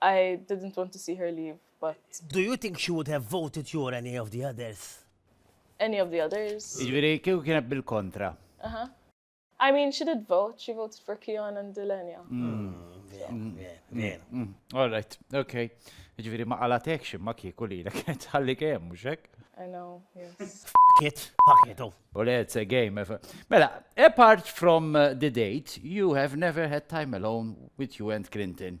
I didn't want to see her leave, but. Do you think she would have voted you or any of the others? Any of the others? Jiġifieri kieku kienet bil-kontra. Aha. I mean, she did vote, she voted for Keon and Delenia. All right, okay. Jiġifieri ma qalatek xi ma kieku li kienet ħalli kemm mhux hekk? I know, yes. Fuck it, fuck it, oh. Well, it's a game. If, Mela, apart from uh, the date, you have never had time alone with you and Clinton.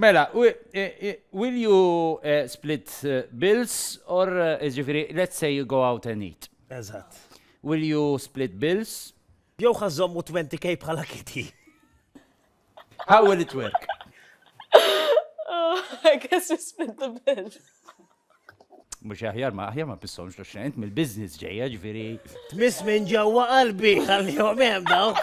Mela, will you eh, split eh, bills or eh, ġifiri, let's say you go out and eat. Eżatt. Will you split bills? Jew ħażommu 20k bħala kiti. How will it work? Oh, I guess we split the bill. Mux aħjar ma aħjar ma pissomx l xent mill-biznis ġeja ġifiri. Tmiss minn ġewwa qalbi għal-jom hemm dawk.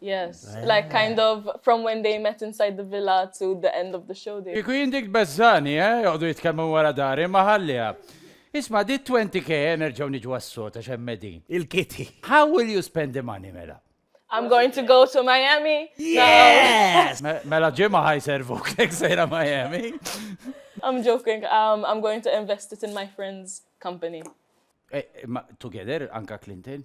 Yes, eh. like kind of from when they met inside the villa to the end of the show. Iku jindik bezzani, eh, joqdu jitkellmu wara dari, maħallija. Isma, di 20k enerġaw niġu għas-sot għax medin. Il-kiti. How will you spend the money, mela? I'm going to go to Miami. Yes! No. Mela ġimma ħaj servu kek sejra Miami. I'm joking. Um, I'm going to invest it in my friend's company. Eh, eh, together, Anka Clinton?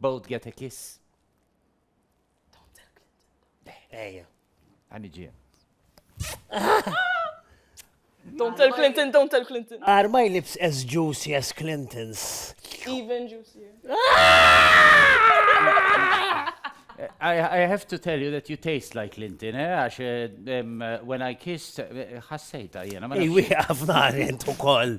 Both get a kiss. Don't tell Clinton. Ejja. Għani ġien. Don't tell Clinton, don't tell Clinton. Are my lips as juicy as Clinton's? Even juicier. I, I have to tell you that you taste like Clinton, eh? Għax um, when I kissed, ħassejta jena. Ej, wieqaf naħri intu koll.